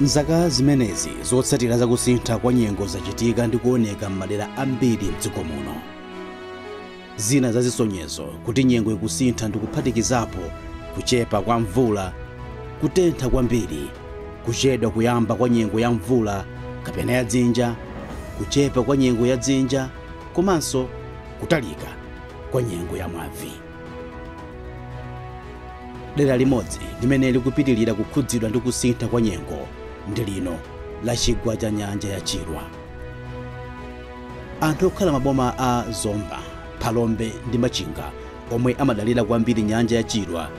m'zaka zimenezi zotsatira za kusintha kwa nyengo zachitika ndi kuoneka m'madera ambiri m'dziko muno zina za zisonyezo kuti nyengo ikusintha ndi kuphatikizapo kuchepa kwa mvula kutentha kwambiri Kuchedwa kuyamba kwa nyengo ya mvula kapena ya dzinja, kuchepa kwa nyengo ya dzinja komanso kutalika kwa nyengo ya mwamvu. Dera limodzi limene likupitilira kukhudzidwa ndi kusintha kwa nyengo ndi lino la chigwa cha nyanja ya Chilwa. Anthu okhala m'maboma a Zomba, Phalombe ndi Machinga omwe amadalira kwambiri nyanja ya Chilwa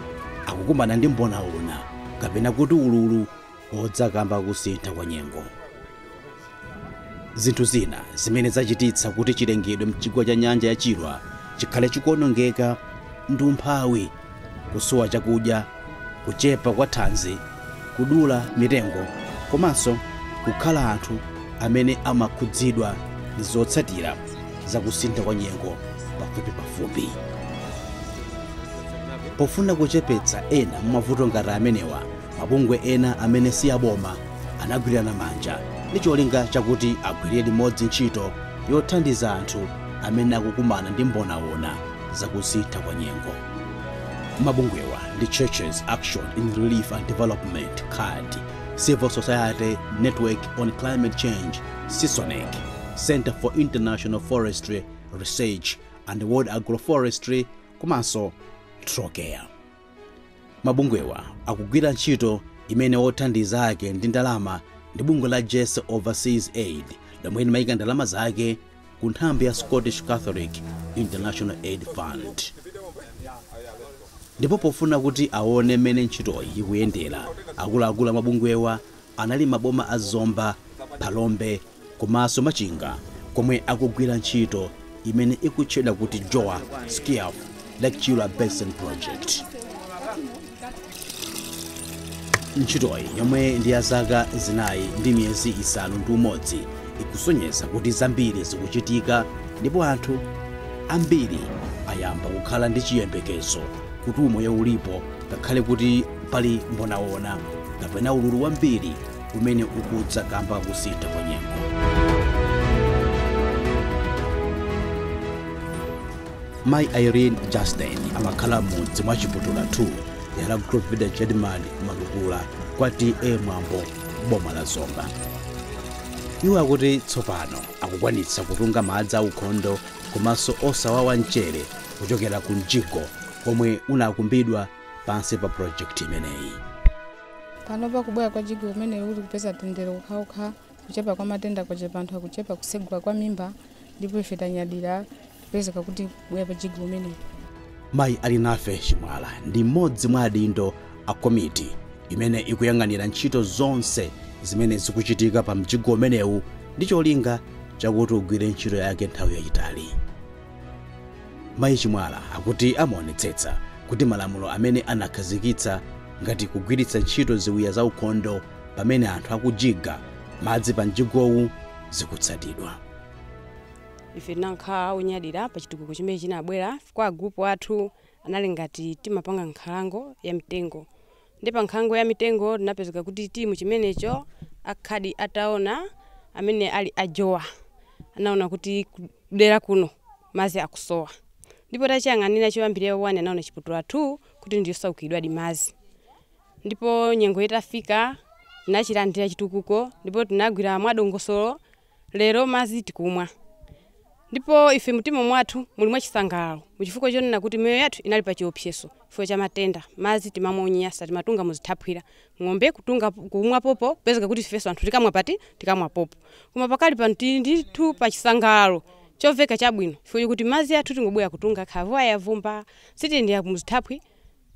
akukumana ndi mbonaona kapena kuti ululu wodza kamba ka kusintha kwa nyengo zinthu zina zimene zachititsa kuti chilengedwe mchigwa cha nyanja ya chilwa chikhale chikuonongeka ndi umphawi kusowa chakudya kuchepa kwa thanzi kudula mitengo komanso kukhala anthu amene amakhudzidwa ndi zotsatira za kusintha kwa nyengo pafupipafupi. Pofuna kuchepetsa ena mwa mavuto ngati amenewa, mabungwe ena amene si aboma anagwirana manja ndi cholinga chakuti agwirire limodzi ntchito yothandiza anthu amene akukumana ndi mbonaona za kusintha kwa nyengo. Mabungwewa ndi Churches Action in Relief and Development, CARD, Civil Society Network on Climate Change CISONECC, Centre for International Forestry Research and World Agroforestry komanso Trocaire. Mabungwewa akugwira ntchito imene othandiza ake ndi ndalama ndi bungwe la Jersey Overseas Aid lomwe limayika ndalama zake ku nthambi ya Scottish Catholic International Aid Fund. Ndipo pofuna kuti aone mmene ntchitoyi ikuyendera, akuluakulu a mabungwewa anali m'maboma a Zomba, Phalombe komanso Machinga komwe akugwira ntchito imene ikutchedwa kuti JOA SCIAF Lake Chilwa Basin Project. Ntchitoyi yomwe ndi ya zaka zinayi ndi miyezi isanu ndi umodzi ikusonyeza kuti zambiri zikuchitika ndipo anthu ambiri ayamba kukhala ndi chiyembekezo kuti umoyo ulipo ngakhale kuti pali mbonawona kapena ululu wambiri umene ukudza kamba ka kusintha kwa nyengo mayi irene justin amakhala m'mudzi mwa chiputula 2 dera la group village headman malukula kwa ta mwambo boma la zomba iwo akuti tsopano akukwanitsa kutunga madzi aukhondo komanso osawawa mchere kuchokera ku mjigo omwe unakumbidwa pansi pa project imeneyi pano pakubwera kwa jigo umenewu tikupeza tendere ukhaukha kuchepa kwa matenda kwachepa anthu akuchepa kusegula kwa mimba ndipo ife tanyadira kupezeka kuti kubwera kwa jigo umenewu mayi alinafe chimwala ndi mmodzi mwa adindo a komiti imene ikuyang'anira ntchito zonse zimene zikuchitika pa mjigo umenewu ndi cholinga chakuti ugwire ntchito yake nthawi yayitali Mayi Chimwala akuti amaonetsetsa kuti malamulo amene anakhazikitsa ngati kugwiritsa ntchito ziwiya za ukhondo pamene anthu akujiga madzi pa mjigowu zikutsatidwa. ife tinakhala onyadira pa chitukuko chimene chinabwera kwa agrupu athu anali ngati timapanga nkhalango ya mitengo Nde pa nkhalango ya mitengo tinapezeka kuti timu chimenecho a card ataona amene ali a jowa anaona kuti kudela kuno mazi akusowa ndipo tachiyang'anila choyambilira wani anaona chiputula 2 kuti ndiyosaukilidwadi mazi ndipo nyengo itafika tinachilandila chitukuko ndipo tinagwila mwadongosolo Lero madzi tikumwa, ndipo ife m'mtima mwathu muli mwachisangalalo mu chifukwa chonena kuti miyoyo yathu inali pa chiopsezo chifukwa cha matenda. Madzi timamwa onyansa, timatunga mu zithaphwi, ng'ombe kutunga, kumwa popo, kupezeka kuti ifenso anthu tikamwa pati? Tikamwa popo. Koma pakali pano tili ndithu pa chisangalalo chomveka chabwino chifukwa chokuti madzi athu tingobwera kutunga khavuwa yavumba, sitiyendera mu zithaphwi,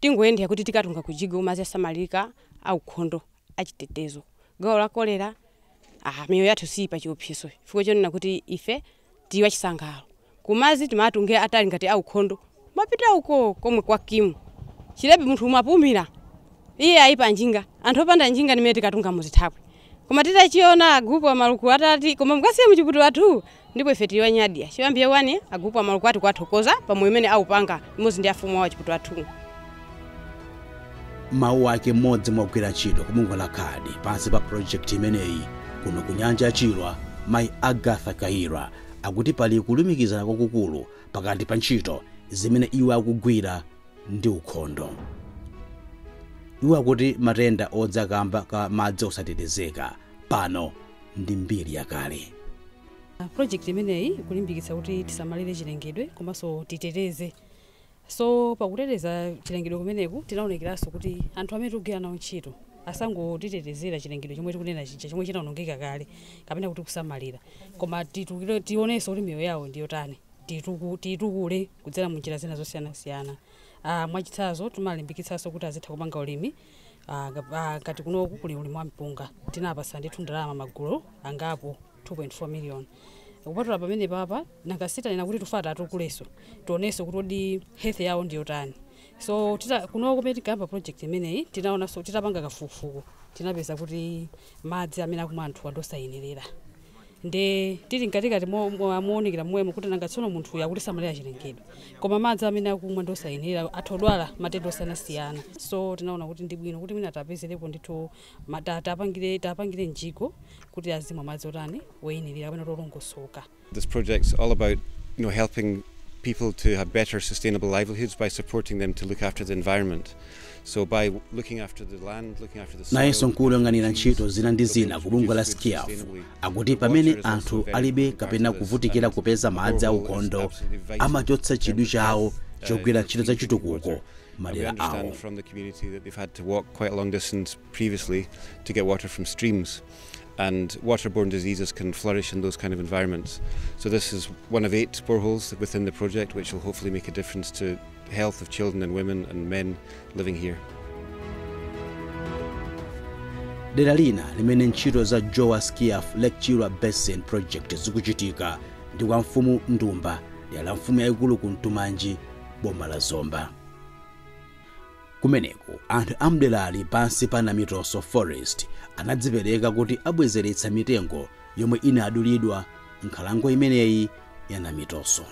tingoyendera kuti tikatunga ku jigo, madzi osamalirika, aukhondo, achitetezo. Gawo la kolera a Miyoyo yathu siili pa chiopsezo chifukwa chonena kuti ife tili achisangalalo. Ku madzi timawatungira atali ngati aukhondo. Kumapita uko komwe kwa Kimu. Chilebe munthu umapumira. Iye ayi pa njinga. Anthu opanda njinga ndi mmene tikatunga mu zithaphwi. Koma titachiona a gulupu a Maluku atati koma mukasiye mu chiputula tu ndipo ife tili wonyadira choyambia wani agupu amalukula athu kuwathokoza pa moyo umene aupanga limodzi ndi afumu awo a chiputula tu mawu ake mmodzi mwa ogwira ntchito ku bungwe la kadi pansi pa projekti imeneyi kuno ku nyanja ya chilwa mayi agatha kaira akuti pali kulumikizana kwakukulu pakati pa ntchito zimene iwo akugwira ndi ukhondo iwo akuti matenda odza kamba ka madzi osatetezeka pano ndi mbiri yakale project imeneyi ikulimbikitsa kuti tisamalire chilengedwe komanso titeteze so pakuteteza chilengedwe kumeneku tinaonetsetsanso kuti anthu amene tikugwira nawo ntchito asangotitetezera chilengedwe chomwe tikunena chija chomwe chinaonongeka kale kapena kuti kusamalira koma titukire- tionenso kuti miyoyo yawo ndiyotani Tiituku- tiitukule kudzera mu njira zina zosiyanasiyana Ah, mwachitsanzo timalimbikitsanso kuti azitha kupanga ulimi Ah, nga- ah, ngati kunoku kuli ulimi wa mpunga tinapatsa ndithu ndalama magulu angapo 2.4 million kupatula pamenepapa ngati tanena kuti tufata atukulenso tionenso kuti odi health yawo ndiyotani so tita- kunoku pamene tinkayamba project imeneyi tinaonanso titapanga kafukufuku tinapeza kuti madzi amene akumwa anthu ndi osayenerera Nde tili mkatikati mounikira momwemo kuti nanga tsono munthuyu akutisamalirira chilengedwe koma madzi amene akumwa ndi osayenerera, atha kudwala matenda osiyanasiyana. So tinaona kuti ndi bwino kuti mwina tiwapezerepo ndithu ma, ta, tiwapangire, tiwapangire mjigo kuti azimwa madzi otani, oyenerera kapena kuti olongosoka. This project's all about you know, helping people to have better sustainable livelihoods by supporting them to look after the environment. nayenso mkulu woyang'anira ntchito zina ndi zina ku bungwe la SCIAF akuti pamene anthu alibe kapena kuvutikira kupeza madzi aukhondo amachotsa chidwi chawo chogwira ntchito za chitukuko m'madera awo and waterborne diseases can flourish in those kind of environments. So this is one of eight boreholes within the project which will hopefully make a difference to the health of children and women and men living here. dera lina limene ntchito za JOA SCIAF lake chilwa basin project zikuchitika ndi kwa mfumu ndumba dera la mfumu yayikulu kumtumanji boma la zomba Kumeneko, anthu a m'derali pansi pa Namitoso Forest anadzipereka kuti abwezeretse mitengo yomwe inadulidwa m'nkhalango imeneyi ya Namitoso.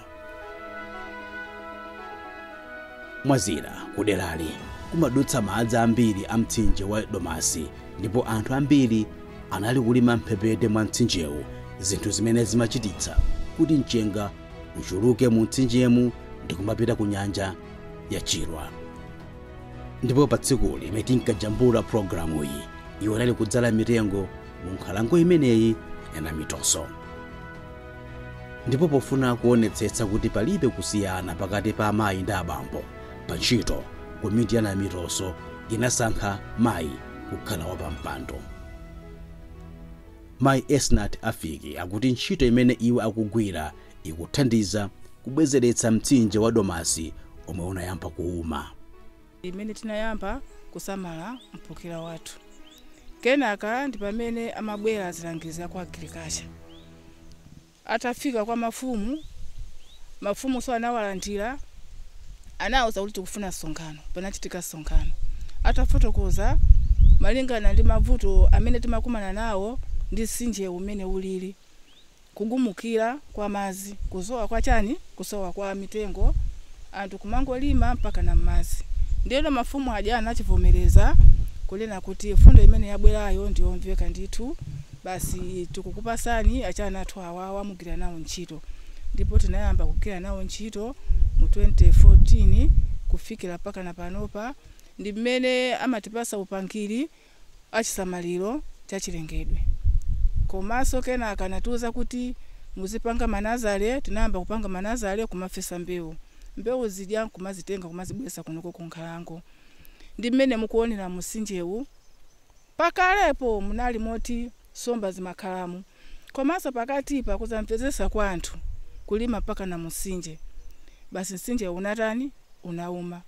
Mwa zina, kuderali kumadutsa madzi ambiri a mtsinje wa Domasi ndipo anthu ambiri anali kulima m'mphepete mwa mtsinjewu, zinthu zimene zimachititsa kuti mchenga uchuluke mu mtsinjemu ndi kumapita ku nyanja. ya chilwa ndipo pa tsiku limene tinkajambula pulogalamuyi iwo anali kudzala mitengo mu nkhalango imeneyi ya namitoso ndipo pofuna kuonetsetsa kuti palibe kusiyana pakati pa amayi ndi abambo pa ntchito komiti ya namitoso inasankha mayi kukhala wapampando mayi esnat afiki akuti ntchito imene iwo akugwira ikuthandiza kubwezeretsa mtsinje wa Domasi omwe unayamba kuuma. ndi mmene tinayamba kusamala mphukira wathu. Kenaka ndi pamene amabwera azilangizi a ku agriculture. Atafika kwa mafumu, mafumunso anawalandira, anawauza kuti tikufuna msonkhano. Panachitika msonkhano. Atafotokoza malingana ndi mavuto amene timakumana nawo ndi mtsinjewu mmene ulili, kugumukira kwa madzi, kusowa kwa chani, kusowa kwa mitengo, anthu kumangolima mpakana mmadzi. Ndiyeno mafumu aja anachivomereza kunena kuti mfundo imene yabwerayo ndi yomveka ndithu, basi tikukupasani achina athu awawa mugwira nawo ntchito. Ndipo tinayamba kugwira nawo ntchito mu 2014 kufikira mpakana panopa, ndi mmene amatipatsa upangiri, achisamaliro cha chilengedwe komaso kenaka anatiuza kuti muzipanga ma nazale tinayamba kupanga ma nazale kumafesa mbewu mbewu zija nkumazitenga kumazibwelesa kunoko ku nkhalango ndi mmene mukuonera musinjewu pakalepo munali moti somba zimakhalamo komaso pakatipa kusamvesesa kwa anthu kulima mpakana musinje basi nsinjewu unatani unauma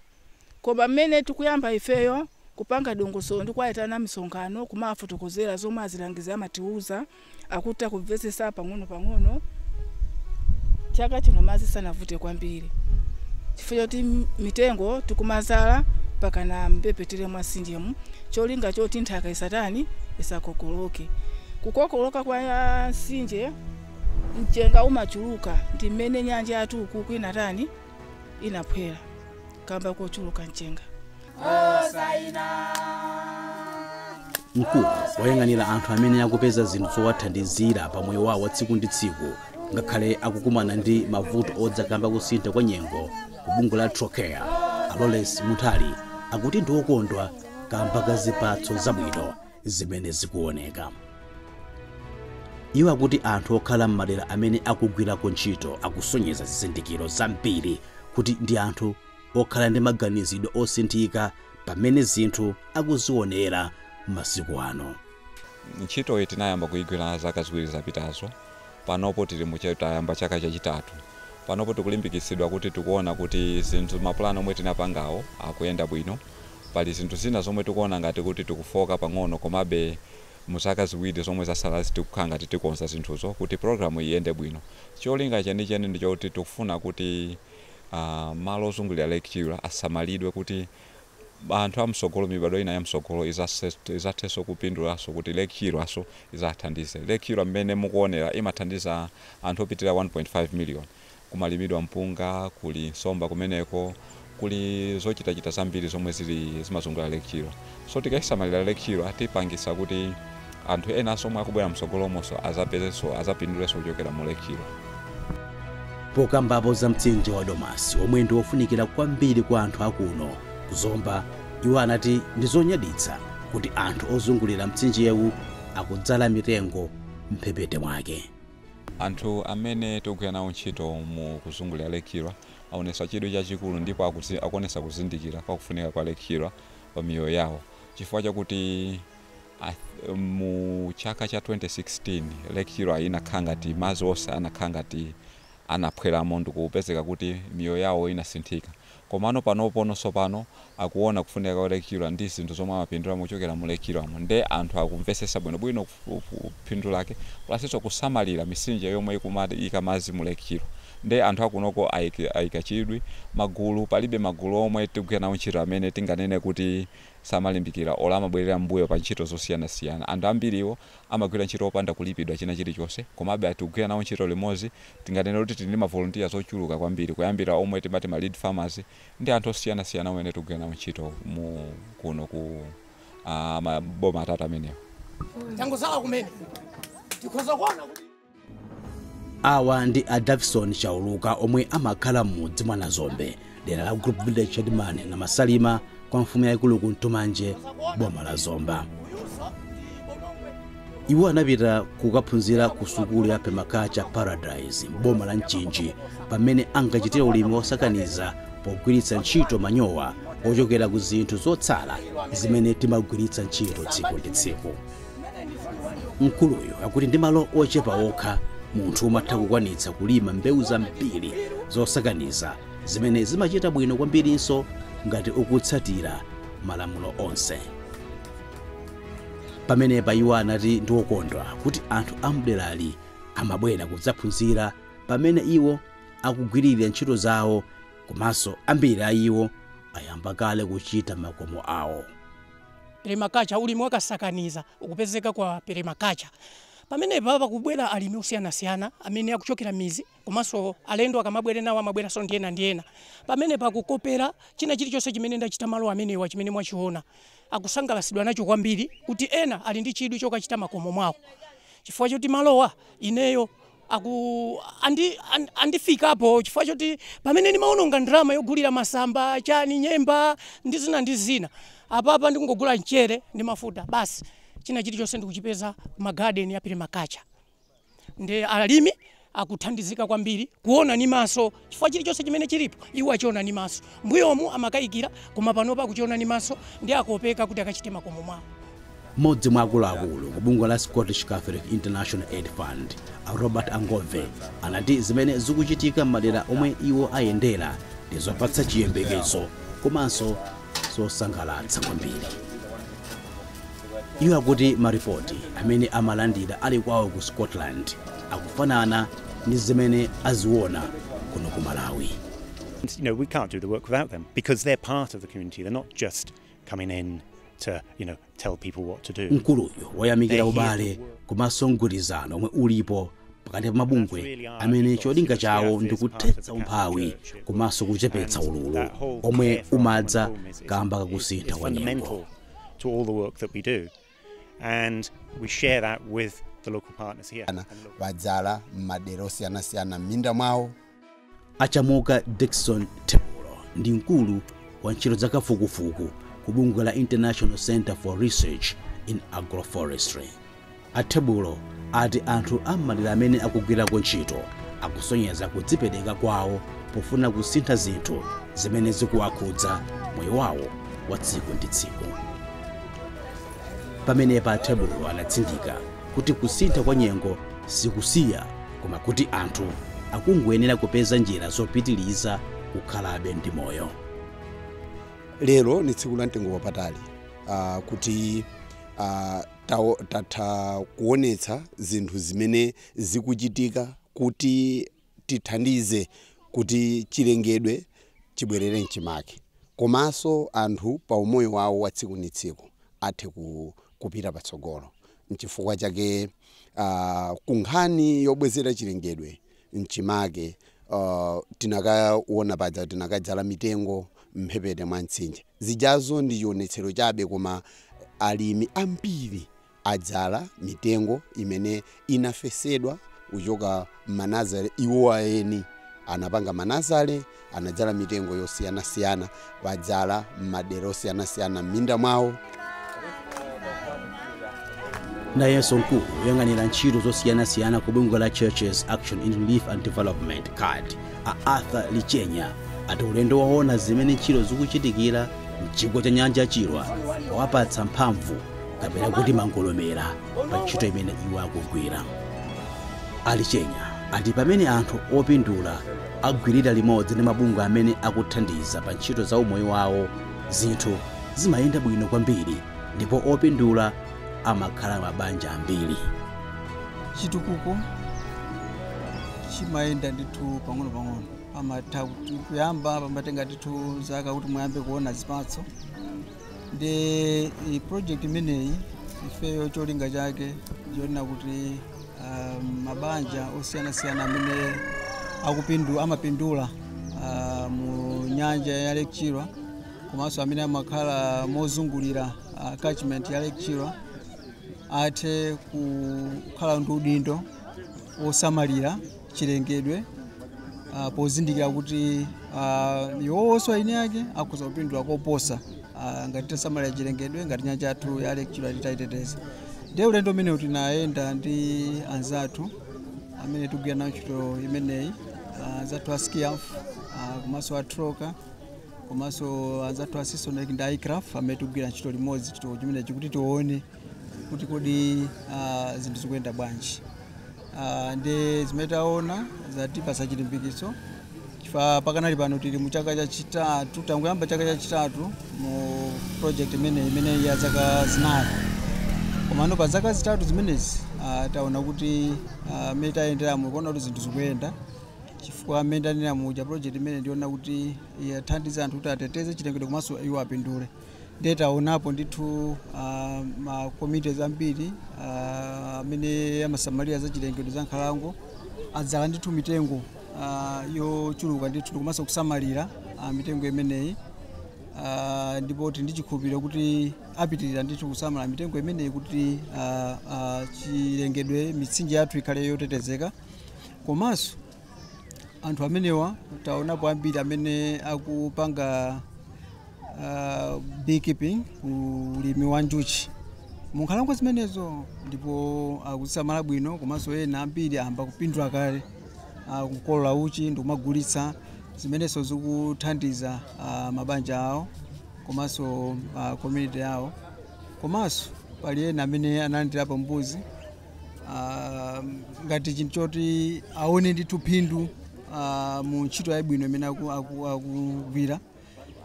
Koma mmene tikuyamba ifeyo kupanga dongosolo ndi kuwaitana misonkhano kumawafotokozera zomwe azilangizi amatiuza, akutha kumvetsetsa pang'onopang'ono. Chaka chino madzi sanavute kwambiri chifukwa choti mitengo tikumadzala pakana m'mphepete mwa nsinjemu cholinga choti nthaka isatani isakokoloke. Kukokoloka kwa nsinje mchenga umachuluka ndi mmene nyanja yathu kukuku inatani inaphwera kamba kochuluka mchenga mkulu woyang'anira anthu amene akupeza zinthu zowathandizira pa moyo wawo wa tsiku ndi tsiku ngakhale akukumana ndi mavuto odza kamba kosintha kwa nyengo ku bungwe la Trocaire a Lawrence Munthali akuti ndi wokondwa kamba ka zipatso zabwino zimene zikuoneka. Iwo akuti anthu okhala m'madera amene akugwirako ntchito akusonyeza zizindikiro zambiri kuti ndi anthu okhala ndi maganizidwe osinthika pa mmene zinthu akuzionera masiku ano. Ntchitoyi tinayamba kuigwira zaka ziwiri zapitazo Panopo tili mu, tayamba chaka chachitatu. Panopo tikulimbikitsidwa kuti tikuona kuti zinthu, mapulani omwe tinapangawo akuyenda bwino. Pali zinthu zina zomwe tikuona ngati kuti tikufooka pang'ono komabe mu zaka ziwiri zomwe zasalazi tikukhala ngati tikonza zinthuzo kuti pulogalamu iyende bwino. Cholinga chenicheni ndi choti tikufuna kuti malo ozungulira Lake Chilwa asamalidwe kuti. anthu amsogolo, mibadwo ina yamsogolo izathenso kupindulanso kuti Lake Chilwaso izawathandize. Lake Chilwa mmene mukuonera imathandiza anthu opitirira 1.5 million. Kumalimidwa mpunga, kuli nsomba kumeneko, kuli zochitachita zambiri zomwe zili zimazungulira Lake Chilwa. So tikaisamalira Lake Chilwa tipangisa kuti. anthu enanso omwe akubwera mtsogolomonso azapindulenso kuchokera mu Lake-lo. Pokambapo za mtsinje wa Domasi omwe ndi ofunikira kwambiri kwa anthu a kuno ku Zomba, iwo anati ndi zonyaditsa kuti anthu ozungulira mtsinjewu akudzala mitengo m'mphepete mwake. Anthu amene tikugwira nawo ntchito mu kuzungulira Lake Chilwa awonetsa chidwi chachikulu ndipo akuwonetsa kuzindikira kwa kufunika kwa Lake Chilwa pa miyoyo yawo chifukwa chakuti, Mu chaka cha 2016 lake Chilwa inakhala ngati madzi onse anakhala ngati anaphwelamo ndikupezeka kuti miyoyo yawo inasinthika komano panopono tsopano akuona kufunika kwa lake Chilwa ndi zinthu zomwe amapindula mochokera mu lake Chilwamo nde anthu akumvesesa bwinobwino phindu lake plasnso kusamalira misinje yomwe ikumaika madzi mu lake Chilwa nde anthu akunoko aika chidwi magulu palibe magulu omwe tikugwira nawo ntchito amene tinganene kuti samalimbikira or amabwerera m'mbuyo pa ntchito zosiyanasiyana anthu ambiriwo amagwira ntchito opanda kulipidwa china chilichonse komabe atikugwira nawo ntchito limodzi tinganene kuti tili ndi ma volunteers ochuluka kwambiri kuyambira omwe timati ma lead farmers ndi anthu osiyanasiyana omwe tikugwira nawo ntchito mu kuno ku maboma atatu amenewa Tangotsala kumene tikhoza kuona kuti awa ndi a davison chauluka omwe amakhala m'mudzi mwa nazombe dera la group village chairman namasalima kwa mfumu yayikulu kumtumanji boma la zomba iwo anapita kukaphunzira ku sukulu ya permaculture paradise m'boma la mchinji pamene ankachitira ulimi wosakaniza pogwiritsa ntchito manyowa ochokera ku zinthu zotsala zimene timagwiritsa ntchito tsiku ndi tsiku mkuluyu akuti ndi malo ochepa okha munthu umatha kukwanitsa kulima mbewu zambiri zosakaniza zimene zimachita bwino kwambirinso ngati ukutsatira malamulo onse pamenepa iwo anati ndi okondwa kuti anthu amderali amabwera kudzaphunzira pamene iwo akugwirira ntchito zawo komanso ambiri a iwo ayamba kale kuchita makomo awo permaculture, ulimi wakasakaniza ukupezeka kwa permaculture. Pamenepa pakubwera alimi osiyanasiyana amene akuchokera midzi komanso alendo akamabweranawo amabweranso ndi ena ndi ena. Pamenepa akukopera china chilichonse chimene ndachita malo amenewa chimene mwachiona. Akusangalatsidwa nacho kwambiri kuti ena ali ndi chidwi chokachita makomo mwawo chifukwa choti malowa ineyo akuandifikapo chifukwa choti pamene ndimaononga ndalama yogulira masamba chani nyemba ndi zina ndi zina apapa ndikungogula mchere ndi mafuta basi china chilichonse ndikuchipeza ma garden a permaculture nde alimi akuthandizika kwambiri kuona ni maso chifukwa chilichonse chimene chilipo iwo achiona ni maso. Mbuyomu amakayikira koma panopa akuchiona ni maso ndi akopeka kuti akachite makomo mwawo. Mmodzi mwa akuluakulu ku bungwe la Scottish Catholic International Aid Fund, a Robert Angove, anati zimene zikuchitika m'madera omwe iwo ayendera ndi zopatsa chiyembekezo komanso zosangalatsa kwambiri. Iwo akuti maripoti amene amalandira ali kwawo ku Scotland akufanana ndi zimene aziona kuno ku Malawi. You know, we can't do the work without them because they're part of the community. They're not just coming in to, you know, Mkuluyu wayamikira ubale komanso mgwirizano omwe ulipo pakati pa mabungwe amene cholinga chawo ndi kuthetsa umphawi komanso kuchepetsa ululu omwe umadza kamba kakusintha kwa nyengo. Adzala m'madera osiyanasiyana m'minda mwawo a chamuka dickson thebulo ndi mkulu wa ntchito za kafukufuku ku bungwe la international center for research in agroforestry a thebulo ati anthu am'madera amene akugwirako ntchito akusonyeza kudzipereka kwawo pofuna kusintha zinthu zimene zikuwakhudza moyo wawo wa tsiku ndi tsiku pamenepa a thebulo anatsindika kuti kusintha kwa nyengo sikusiya koma kuti anthu akungoyenera kupeza njira zopitiliza kukhalabe ndi moyo. lero ni tsiku la mtengo wapatali uh, kuti uh, tatha kuonetsa zinthu zimene zikuchitika kuti tithandize kuti chilengedwe chibwerere mchimake komanso anthu pa umoyo wawo wa tsiku ni tsiku athe ku, kupita patsogolo. N'chifukwa chake uh, ku nkhani yobwezera chilengedwe mchimake uh, tinakaona paja tinakadzala mitengo mphepete mwa mtsinje zijazo ndi chionetsero chabe koma alimi ambiri adzala mitengo imene inafesedwa kuchoka m'manazale iwo aeni anapanga manazale anadzala mitengo yosiyanasiyana adzala m'madera osiyanasiyana m'minda mwawo nayenso mkulu woyang'anira ntchito zosiyanasiyana ku bungwe la churches action in relief and development card a arthur lichenya ati ulendo waona zimene ntchito zikuchitikira mchigwa cha nyanja ya chilwa wawapatsa mphamvu kapena kuti mangolomera pa ntchito imene iwo akugwira a Lichenya ati pamene anthu opindula agwirira limodzi ndi mabungwe amene akuthandiza pa ntchito za umoyo wawo zinthu zimayenda bwino kwambiri ndipo opindula amakhala mabanja ambiri chitukuko chimayenda ndithu pang'ono pang'ono pamatha kuyamba pamatenga ndithu zaka kuti muyambe kuona zipatso ndiye project imeneyi ifeyo cholinga chake ndi choona kuti um, mabanja osiyanasiyana amene akupindu amapindula uh, mu nyanja ya Lake Chilwa komanso amene amakhala mozungulira uh, catchment ya Lake Chilwa athe kukhala ndi udindo wosamalira chilengedwe ah, pozindikira kuti ah, iwowonso eni ake akhoza kupindula koposa ah, ngati tasamalira chilengedwe ngati nyanja yathu ya Lake Chilwa titayiteteza ndiye ulendo umenewu tinayenda ndi anzathu amene tikugwira nawo ntchito imeneyi ah, anzathu a SCIAF ah, komanso a Trocaire komanso anzathu a CISONECC ndi ICRAF amene tikugwira ntchito limodzi chinthu chimenechi kuti tione kuti kodi uh, zinthu zikuyenda bwanji uh, ndiye zimene taona zatipasa chilimbikitso chifukwa pakanali pano tili mu chaka chachitatu tangoyamba chaka chachitatu mu project imeneyi imene ya zaka zinayi komano pa zaka zitatu zimenezi uh, taona kuti uh, mmene tayenderamo tikuona kuti zinthu zikuyenda chifukwa mmene tanena muja project imeneyi ndi yoona kuti yathandiza anthu kuti ateteze chilengedwe komanso iwo apindule ndiye taonapo ndithu uh, makomiti ambiri ah, amene uh, amasamalira za chilengedwe za nkhalango adzala ndithu mitengo uh, yochuluka ndithu ndi komanso kusamalira uh, mitengo imeneyi uh, ndipo tili ndi chikhulupiriro kuti apitirira ndithu kusamala mitengo imeneyi kuti uh, uh, chilengedwe mitsinje yathu ikhale yotetezeka komanso anthu amenewa taonapo ambiri amene akupanga uh, beekeeping ulimi wa njuchi munkhalango zimenezo ndipo akuzisamala bwino komanso ena ambiri ayamba kupindula kale akukolola uchi ndikumagulitsa zimenezo zikuthandiza uh, mabanja awo komanso uh, community yawo komanso pali ena amene analandirapo mbuzi ah, ngati chinthu choti aone ndithu phindu ah, mu ntchito yabwino imene aku- aku- akugwira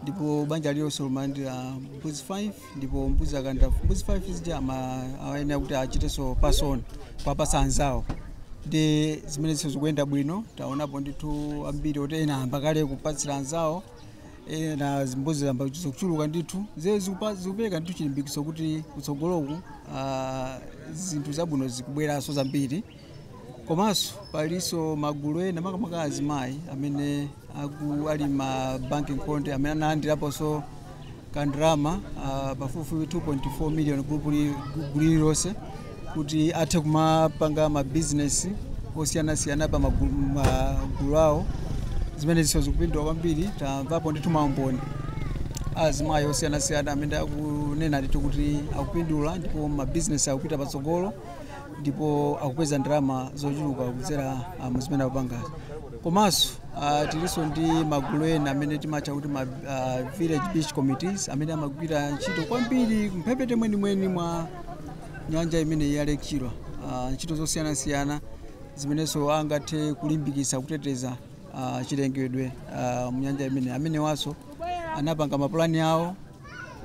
ndipo banja lilonse limalandira mbuzi 5 ndipo mbuzi akalandira mbuzi 5 zija amayenera kuti achitenso pass on kuwapatsa anzawo ndiye zimenezi zikuyenda bwino taonapo ndithu ambiri oti ena ayamba kale kupatsira anzawo e, na mbuzi zayamba kuchuluka ndithu zee zikupa- zikupereka ndithu chilimbikitso kuti kutsogoloku ah, zinthu zabwino zikubweranso zambiri komanso palinso magulu ena makamaka azimayi amene aku- ali ma banki nkhonde amene analandiraponso kandrama ah, pafupifupi 2.4 million gulu lililonse kuti athe kumapanga mabizinesi osiyanasiyana pa magulu magulu awo zimenezinso zikupindula kwambiri tamvapo ndithu maumboni azimayi osiyanasiyana amene akunena ndithu kuti akupindula ndipo mabizinesi akupita patsogolo ndipo akupeza ndalama zochuluka kudzera ah, mu zimene akupangazi komanso ah, tilinso ndi magulu ena amene timatcha kuti ma ah, village beach committees amene amagwira ntchito kwambiri mphepete mwenimweni mwa nyanja imeneyi ya Lake Chilwa ah, ntchito zosiyanasiyana zimenenso angathe kulimbikitsa kuteteza ah, chilengedwe ah, mu nyanja imeneyi amenewanso anapanga mapulani awo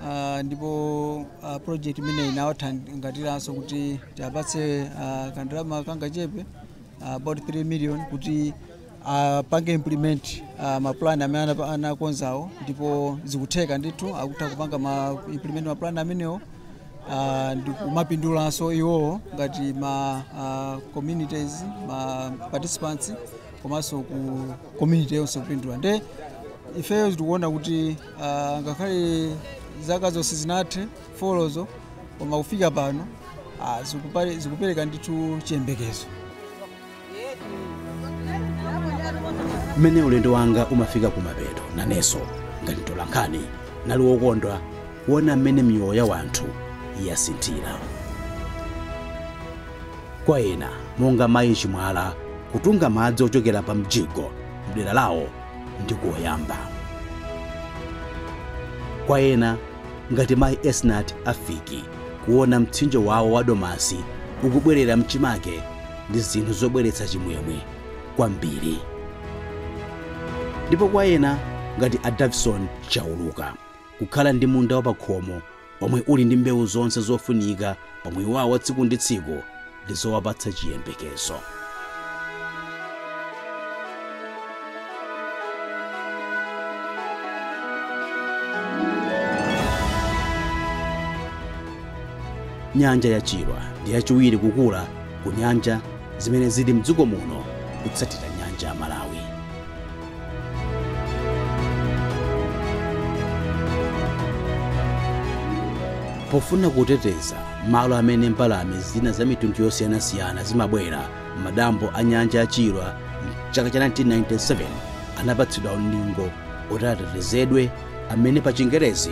ah, ndipo ah, project imeneyi inawathangatiranso kuti tiwapatse ah, kandrama kangachepe ah, about 3 million kuti apange implement uh, mapulani amene anap- anakonzawo ndipo zikutheka ndithu akutha kupanga implement mapulani amenewo uh, ndikumapindulanso iwowo ngati ma uh, communities ma participants komanso ku community yonse kupindula nde ifeyo tikuona kuti uh, ngakhale zaka zonse zisanathe folozo koma kufika pano uh, zikupereka ndithu chiyembekezo mmene ulendo wanga umafika kumapeto nanenso ngati mtolankhani ndinali wokondwa kuona mmene miyoyo ya wanthu yasinthira kwa ena monga mayi chimwala kutunga madzi ochokera pa mjigo mdera lawo ndi koyamba kwa ena ngati mayi esnat afiki kuona mtsinje wawo wa domasi ukubwerera mchimake ndi zinthu zobweretsa chimwemwe kwambiri. Ndipo kwa ena, ngati a Davison Chauluka, kukhala ndi munda wapakhomo womwe uli ndi mbewu zonse zofunika pa moyo wawo wa tsiku ndi tsiku ndi zowapatsa chiyembekezo. Nyanja ya Chilwa ndi yachiwiri kukula ku nyanja zimene zili mdziko muno kutsatira nyanja ya Malawi. Pofuna kuteteza malo amene mbalame zina za mitundu yosiyanasiyana zimabwera m'madambo a nyanja ya Chilwa mchaka cha 1997 anapatsidwa ulingo oti atetezedwe amene pa chingerezi